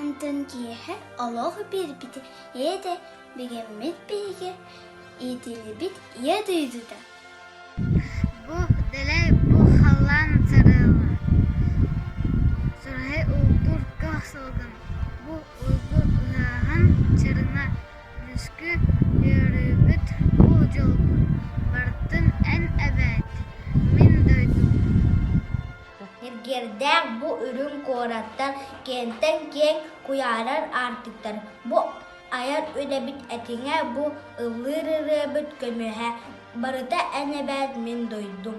Онтон киэһэ олох биэрбитэ ийэтэ бигэммит биһиги иитиллибит ийэ дойдута Бу дэлэй бу халлаан сарыаллар Сарай улгур көх салгын Бу уйгу ыһаһан чарына Лүскү үөрүүбүт бу дьолбут Бартын эн эбээт мин дойдум Эргиэрдээх бу үрүҥ куораттар киэҥтэн киэҥ куйаарар аартыктар. Бу айар үлэбит этиҥэ бу ыллыыр ырыабыт көмүһэ. Барыта эн эбээт мин дойдум